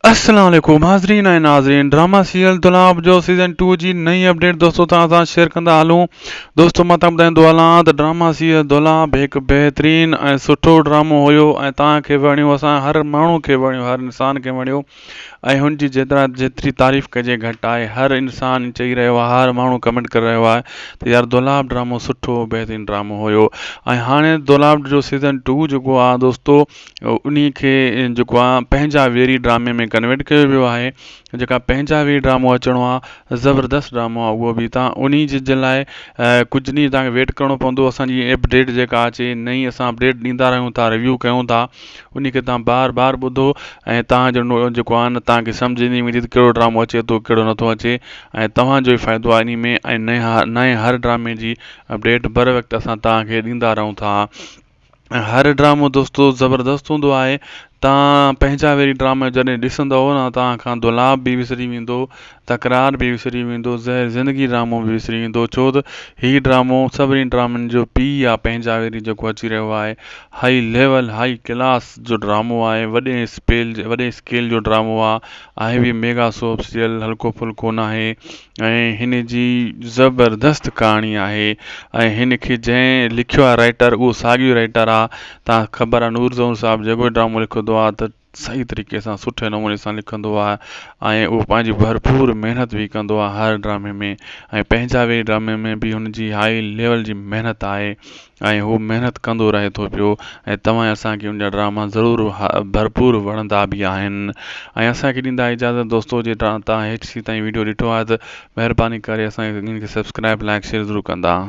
السلام عليڪم حاضرين ۽ ناظرين ڊراما سيريل دولاب جو سيزن ٽو جي نئين اپڊيٽ دوستو توهان سان شيئر ڪندا هلون دوستو مان توهان ٻڌائيندو هلان ته ڊراما سيريل دولاب هڪ بهترين ۽ سٺو ڊرامو هيو ۽ توهان کي وڻيو اسان هر ماڻهو کي وڻيو هر انسان کي وڻيو ۽ هن جي جيترا جيتري تعريف ڪجي گهٽ آهي هر انسان چئي رهيو آهي هر ماڻهو ڪمينٽ ڪري رهيو آهي ته يار دولاب ڊرامو سٺو بهترين ڊرامو هيو ۽ هاڻي دولاب جو سيزن ٽو جيڪو آهي دوستو انهي کي جيڪو آهي پنهنجا ويري ڊرامي ۾ ڪنورٽ ڪيو ويو آهي جيڪا پنهنجا ويري ڊرامو اچڻو آهي زبردست ڊرامو آهي اهو بي تان انهي جي جي لاء ڪجهه ڏينهن تان ويٽ ڪرڻو پوندو اسانجي اپڊيٽ جيڪا اچي نئي اسان اپڊيٽ ڏيندا رهيون ٿا ريويو ڪيون ٿا انهي کي تان بار بار ٻڌو ۽ تان جو جيڪو آهي نه تان کي سمجهه ايندي ويندي ته ڪهڙو ڊرامو اچي ٿو ڪهڙو نه ٿو اچي ۽ توهان جو فائدو آهي انهي ۾ ۽ نئي هر ڊرامي جي اپڊيٽ بر وقت اسان تان کي ڏيندا رهون ٿا هر ڊرامو دوستو زبردست هوندو آهي توهان پنهنجا ويري ڊراما جڏهن ڏسندو نه توهان کان دولاب به وسري ويندو تڪرار به وسري ويندو زهر زندگي ڊرامو به وسري ويندو ڇو ته هي ڊرامو سڀني ڊرامن جو پي آ پنهنجا ويري جيڪو اچي رهيو آهي هاء ليول هاء ڪلاس جو ڊرامو آهي وڏي اسپيل وڏي اسڪيل جو ڊرامو آهي آهي به ميگا سوپ سيريل هلڪو ڦلڪو ناهي ۽ هن جي زبردست ڪهاڻي آهي ۽ هن کي جنهن لکيو آهي رائٽر اهو ساڳيو رائٽر آهي تان خبر آهي نور ظهور صاحب جيڪو به ڊرامو لکندو آهي ته صحيح طريقي سان سٺي نموني سان لکندو آهي ۽ اهو پنهنجي ڀرپور محنت به ڪندو آهي هر ڊرامي ۾ ۽ پنهنجا به ڊرامي ۾ به هن جي هائي ليول جي محنت آهي ۽ هو محنت ڪندو رهي ٿو پيو ۽ توهان اسان کي ان جا ڊراما ضرور ڀرپور وڻندا به آهن ۽ اسان کي ڏيندا اجازت دوستو جي توهان ايچ سي تائين ويڊيو ڏٺو آهي ته مهرباني ڪري اسان کي سبسڪرائب لائڪ شيئر ضرور ڪندا.